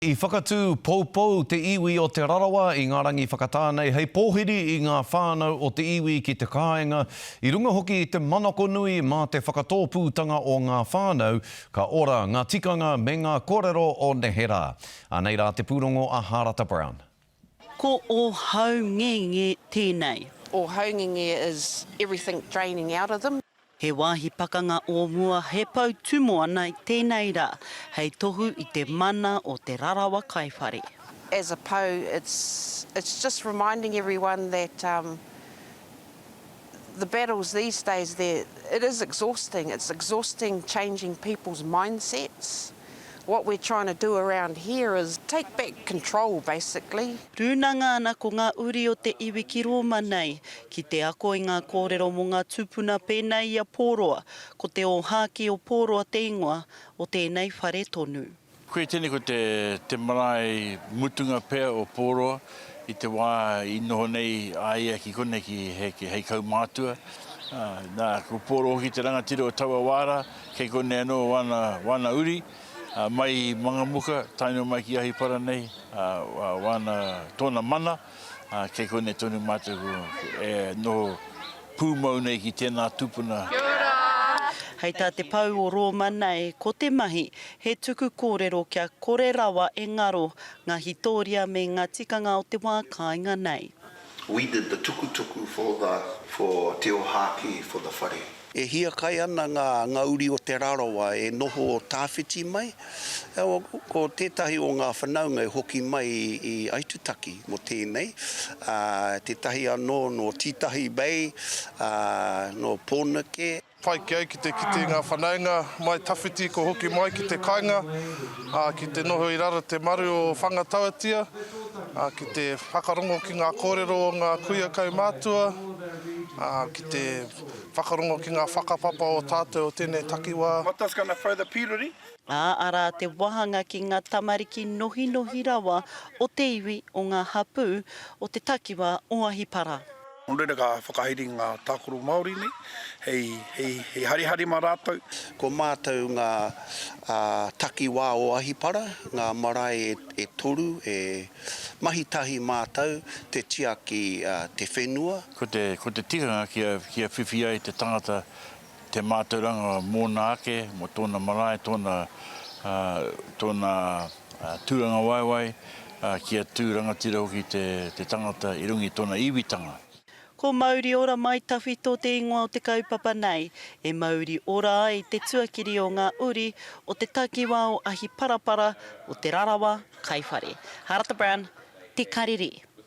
I whakatū poupou te iwi o Te Rarawa i ngā rangi whakatā nei hei pōhiri i ngā whānau o te iwi ki te kāinga, i runga hoki i te manako nui mā te whakatōpūtanga o ngā whānau, ka ora ngā tikanga me ngā kōrero o neherā. Anei rā te pūrongo a Hārata Brown. Ko ō haungenge tēnei. Ō haungenge is everything draining out of them. He wāhi pakanga o mua, he pou tūmoana i tēnei rā, hei tohu i te mana o Te Rarawa Kai Whare. As a pou, it's just reminding everyone that. the battles these days there it is exhausting it's exhausting changing people's mindsets what we're trying to do around here is take back control basically. Rūnanga ana ko ngā uri o te iwi ki Rōma nei, ki te ako i ngā kōrero mō ngā tūpuna pēnei i a Pōroa, ko te ōhākī o Pōroa te ingoa o tēnei whare tonu. Koia tēnei ko te te marae mutunga pea o Pōroa i te wā i noho nei a ia ki konei ki hei hei kaumātua. Na, ko Pōroa hoki te rangatira o taua wā rā, kei konei anō wana wana uri, mai i Mangamuka tae noa mai ki Ahipara nei, wana tōna mana. Kei konei tonu mātou e noho pūmau nei ki tēnā tūpuna. Kia ora! Hei tā te pou o Rōma nei, ko te mahi, he tuku kōrero kia kore rawa e ngaro ngā hitōria me ngā tikanga o te wā kāinga nei. We did the tukutuku for the for Te Ohaki for the whare. E hiakai ana ngā, ngā uri o Te Rarawa e noho tāwhiti mai. Ko tētahi o ngā whanaunga e hoki mai i Aitutaki mō tēnei, ā, tētahi anō nō Tītahi Bay, ā, nō Pōneke. Pai ki au ki te kite ngā whanaunga mai tawhiti kua hoki mai ki te kainga, ā, ki te noho i raro te maru o Whangatawatia, ā, ki te whakarongo ki ngā kōrero o ngā kuia kaumātua, ā, ki te. Whakarongo ki ngā whakapapa o tātou o tēnei takiwā. Ā, arā te wāhanga ki ngā tamariki nohinohi rawa o te iwi o ngā hapū o te takiwā o Ahipara. Nō reira ka whakahaere ngā tākaro Māori nei hei harihari mā rātou. Ko mātou ngā takiwā o Ahipara, ngā marae e toru e mahi tahi mātou te tiaki te whenua. Ko te, ko te tikanga kia, kia whiwhi ai te tangata te mātauranga mōna ake, mō tōna marae, tōna, tōna tūrangawaewae, kia tū rangatira hoki te, te tangata i runga i tōna iwitanga. Ko Mauri Ora Mai Tawhito te ingoa o te kaupapa nei. E mauri ora ai te tuakiri o ngā uri o te takiwā o Ahiparapara, o Te Rarawa, Kaiwhare. Harata Brown, Te Karere.